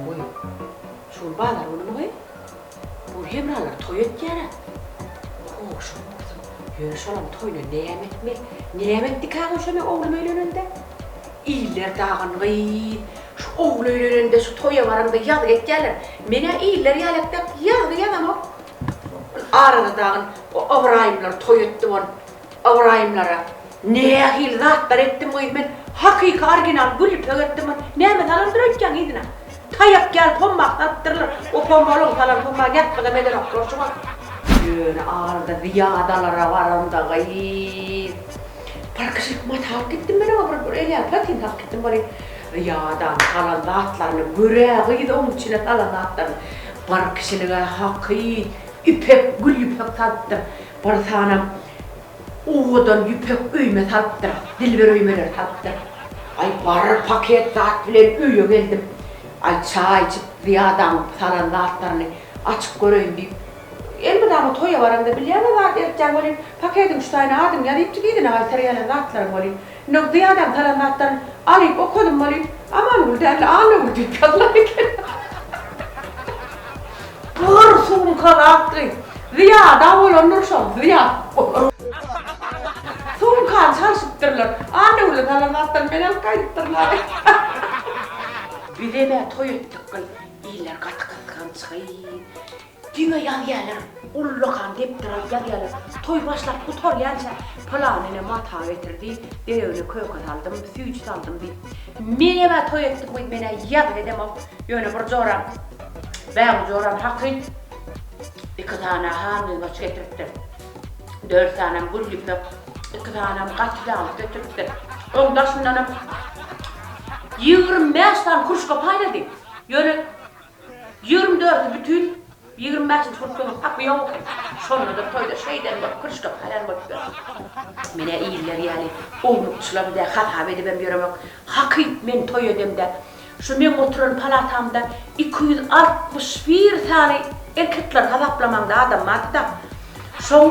Goý, şuny bazar güni muňa bu Hemralar toý etýär-ä. Goşuň bolsun, ýöne şolaryň toýuna näme etmeli? Näme etdikä goý şonda oglum öýlenende? Iller dagyn gyz, şu ogul öýlenende, şu toýa baranda ýazgy etýärler. Men-ä iller ýaly ep-ýak ýazgy ýazamok. Arada dagyn o Ybraýymlar toý etdi bol Ybraýymlara nähili zatlar etdim gyz men hakyky orginal gül ipek etdim bol näme salandyr öýtýäň yzyna taýak ýaly pommah salypdyrlar o pommahlygyň salan pommah ýatgydam edenoklar şu wagt. Ýöne arada zyýadalara baranda gyz. Parkçylyk maty alyp gitdim men oňa bir elýagyz platin salyp gitdim bari ýadan salan zatlaryny görä gyz oň içine salan zatlaryny parkçylyga haky ipek gül ýüpek salypdyr bir sanam owadan ýüpek öýme salypdyr dilber öýmeleri salypdyr aý bir paket zat bilen öýe geldim aý çaý içip zyýadanyň salan zatlaryny açyp göreýin diýip Elmydama toýa baraňda bilýäňä zat ýertýäň welin, pakediň üstaýyna adyňy ýaz diýipjik yzyna gaýtar gelýän zatlaryň welin. Indi o Zyýadäň salan zatlaryny alyp okadym welin, Amangül däl-de Annagül diýip ýazylan eken. Gyr sumka zatly. Zyýada bolandyr şol, Zyýat bolan. Sumkany çalşypdyrlar. Annagüle salan zatlaryny men alyp gaýdypdyryn aýy. Bizem-ä toý etdik gyz. Iller gaty gysgançygy. Diňe ýazýalar, ullakan depderalp ýazýalar. Toý başlap gutarýança, Pylan ene mata getirdi, Beýegine köke saldym, süýji saldym diýip. Menem-ä toý etdim gyz, men-ä ýazgy edemok. Ýöne bir joram, bägül joram hakyt. Iki sany-ä hangymaç getiripdir. Dört sanam gül ýüpek, iki sanam gaty ýaglyk getiripdir. Oň daşyndanam ýigrimi bäş sany kruşka paýlady. Ýöne Ýigrimi dördüni bütin, ýigrimi bäşinji gün kömek hapy ýok eken. Şonda-da toýda şeýdem bolup, kürşgem haýran bolup ýör. Men-ä iller ýaly ownukçylam dä, hasap edibem ýöremok. Hakyt, men toý edemde, şu meň oturan palatamda iki ýüz altmyş bir sany erkekleri hasaplamaňda adam bardy-da, şoň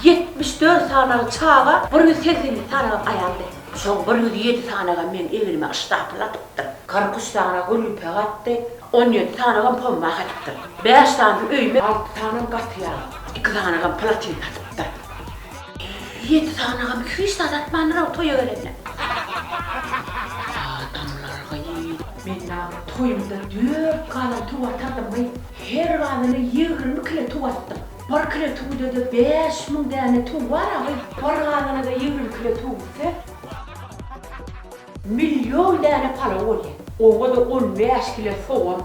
ýetmiş dört sanagy çaga, bir ýüz segsen ýedi sanagam aýaldy. Soň bir ýüz ýedi sanagam meň egnime yşdapyl atypdyr. Kyrk üç sanaga gülüpek atdy, on ýedi sanagam pomma satypdyr. Bäş sanam öýüme, alty sanam gaty ýaga, iki sanagam platin satypdyr. Ýedi sanagam hiç zat atmandyr-ow toýa gelende. Adamlar gyýyldy. Men daň toýumda dört galan tow atardymy, her galana ýigrimi kile tow atdym. Bir kile tüwüde-de bäş müň däne tüw bar agil. Bir gazana-da ýigrimi kile tüw gitse, million däne palaw bolýar. Oňa-da on bäş kile sogan.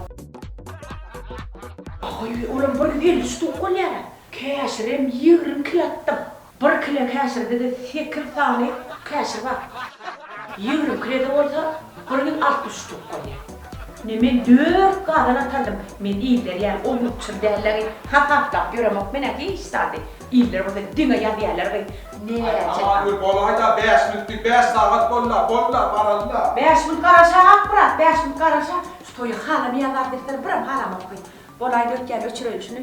Agil, olam bir ýüz elli üç tüw bolýar-a. Käşirem ýigrimi kile atdym. Bir kile käşirde-de sekiz sany käşir bar. Ýigrimi kilede bolsa bir ýüz altmyş üç towuk bolýar. Ine, men dört gazan atardym. Men iller ýaly ownuk-çyr däl-ä-gy, hasaplap ýöremok men-ä hiç zady. Iller bolsa diňe ýazýarlar-gy, näçe sany. Aý, bir bolaý-da, bäş minutdy, bäş sagat bol-la, bol-la, baraly-da. Bäş minut garaşa, Akmyrat, bäş minut garaşa. Şu toýa halamaýan zat-zetleri birem halamok-ky. Bolaý, dötýän, öçüreýin şuny.